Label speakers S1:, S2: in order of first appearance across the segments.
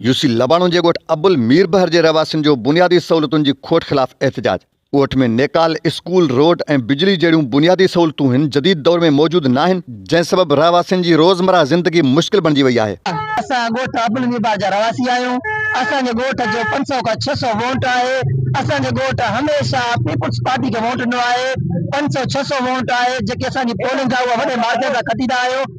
S1: U C Labano جي ڳوٺ ابل ميربحر جي رهواسين جو بنيادي سهولتن جي کوٽ خلاف احتجاج، ڳوٺ ۾ نيڪال، اسڪول، روڊ ۽ بجلي جهڙيون بنيادي سهولتون هن جديد دور ۾ موجود ناهن، جنهن سبب رهواسين جي روزمره زندگي مشڪل بڻجي وئي آهي. اسان ڳوٺ ابل
S2: ميربحر جا رهواسي آهيون، اسان جي ڳوٺ جو پنج سؤ کان ڇهه سؤ وونٽ آهي، اسان جي ڳوٺ هميشه پيپلز پارٽي کي وونٽ ڏنو آهي، پنج سؤ ڇهه سؤ وونٽ آهي، جيڪي اسان جي پولنگ آهي اها وڏي مارجن سان کٽيندا آهيون.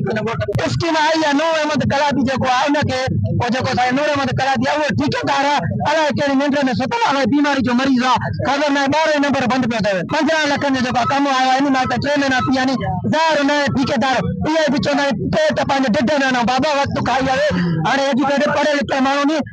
S2: اسڪيم آئي آ نور احمد ڪلاٿي جيڪو آ ان کي او جيڪو اسان نور احمد ڪلاٿي آ اهو ٺيڪيدار الاء ڪهڙي ننڊ ۾ ستل آ بيماري جو مريض آ خبر ناهي ٻارهن ئي نمبر بند پيو ٿئي 15 لکن جو جيڪو ڪم آيو آ انهي مان ٽي مهينا ٿي ويا ني ظاهر نئين ٺيڪيدار اهي به چوندا آهن پيٽ پنهنجي ڍڍ ۾ آڻو بابا وقت کائي آوي هاڻي ايجوڪيٽڊ پڙهيل لکيل ماڻهو ني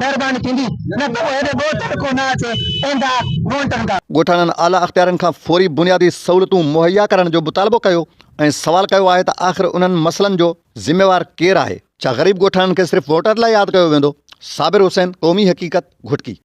S2: مهرباني ٿيندي نه ته اهڙي ڳوٺ ۾ ڪو نه اچي ايندا مونٽن ڪا. ڳوٺاڻن اعليٰ اختيارين
S1: کان فوري بنيادي سهولتون مهيا ڪرڻ جو مطالبو ڪيو ۽ سوال ڪيو آهي ته آخر انهن مسئلن جو ذميوار ڪير آهي؟ ڇا غريب ڳوٺاڻن کي صرف ووٽر لاء ياد ڪيو ويندو؟ صابر حسين، قومي حقيقت، گهوٽڪي.